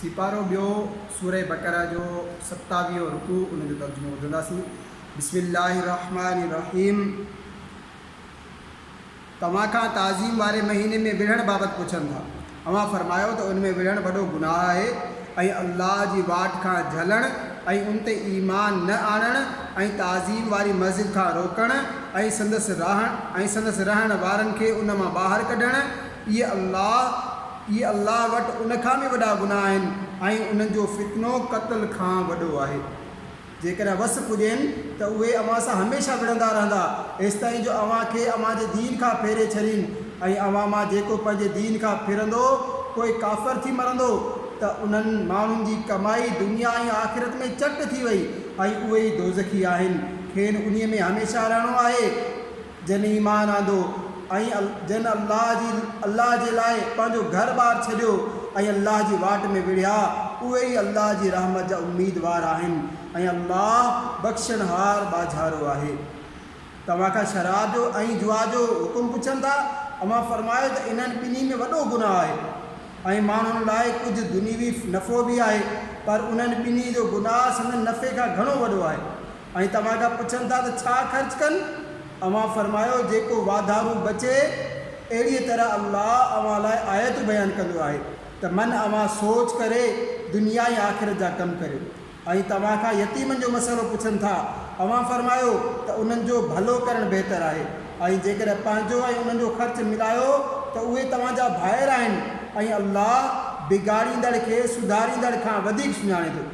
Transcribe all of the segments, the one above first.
سيپارو ٻيو، سورة بقرة جو ستاويهون رڪوع ان جو ترجمو ٻڌنداسين، بسم الله الرحمٰن الرحيم توهان کان تعظيم واري مهيني ۾ وڙهڻ بابت پڇن ٿا، اوهان فرمايو ته ان ۾ وڙهڻ وڏو گناهه آهي ۽ الله جي واٽ کان جهلڻ ۽ ان تي ايمان نه آڻڻ ۽ تعظيم واري مسجد کان روڪڻ ۽ سندس رهڻ ۽ سندس رهڻ وارن کي ان مان ٻاهر ڪڍڻ اهي الله اهي الله وٽ ان کان به وڏا گناهه آهن ۽ انهن جو فتنو قتل کان وڏو آهي. جيڪڏهن وس پڄين ته اهي اوهان سان هميشه وڙهندا رهندا، ايستائين جو اوهان کي اوهان جي دين کان ڦيري ڇڏين ۽ اوهان مان جيڪو پنهنجي دين کان ڦرندو پوء ڪافر ٿي مرندو ته انهن ماڻهن جي ڪمائي دنيا ۽ آخرت ۾ چٽ ٿي وئي ۽ اهي ئي دوزخي آهن، کين انهيء ۾ هميشه رهڻو آهي. جن ايمان آندو ۽ جن الله جي الله جي لاء پنهنجو گهر ٻار ڇڏيو ۽ الله جي واٽ ۾ وڙهيا، اهي ئي الله جي رحمت جا اميدوار آهن ۽ الله بخشڻهار ٻاجهارو آهي. توهان کان شراب جو ۽ جوا جو حڪم پڇن ٿا، اوهان فرمايو ته انهن ٻنهي ۾ وڏو گناهه آهي ۽ ماڻهن لاء ڪجهه دنيوي نفعو به آهي، پر انهن ٻنهي جو گناهه سندن نفعي کان گهڻو وڏو آهي. ۽ توهان کان پڇن ٿا ته ڇا خرچ ڪن؟ اوهان فرمايو جيڪو واڌارو بچي، اهڙيء طرح الله اوهان لاء آيتون بيان ڪندو آهي ته من اوهان سوچ ڪري دنيا ۽ آخرت جا ڪم ڪريو. ۽ توهان کان يتيمن جو مسئلو پڇن ٿا، اوهان فرمايو ته انهن جو ڀلو ڪرڻ بهتر آهي ۽ جيڪڏهن پنهنجو ۽ انهن جو خرچ ملايو ته اهي توهان جا ڀائر آهن ۽ الله بگاڙيندڙ کي سڌاريندڙ کان وڌيڪ سڃاڻي ٿو.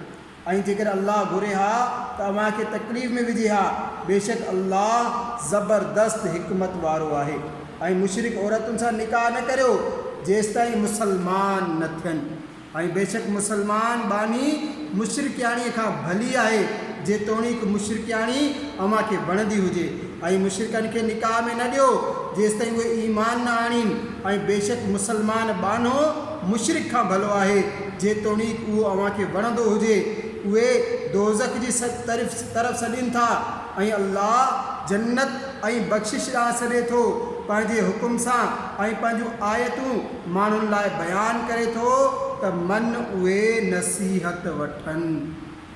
۽ جيڪڏهن الله گهري ها ته اوهان کي تڪليف ۾ وجهي ها، بيشڪ الله زبردست حڪمت وارو آهي. ۽ مشرڪ عورتن سان نڪاح نه ڪريو جيستائين مسلمان نه ٿين ۽ بيشڪ مسلمان ٻانهي مشرڪياڻيء کان ڀلي آهي جيتوڻيڪ مشرڪياڻي اوهان کي وڻندي هجي. ۽ مشرڪن کي نڪاح ۾ نه ڏيو جيستائين اهي ايمان نه آڻين ۽ بيشڪ مسلمان ٻانهو مشرڪ کان ڀلو آهي جيتوڻيڪ اهو اوهان کي وڻندو هجي اهي دوزخ جي طرف سڏين ٿا ۽ الله جنت ۽ بخشش ڏانهن سڏي ٿو پنهنجي حڪم سان ۽ پنهنجون آيتون ماڻهن لاء بيان ڪري ٿو ته من اهي نصيحت وٺن.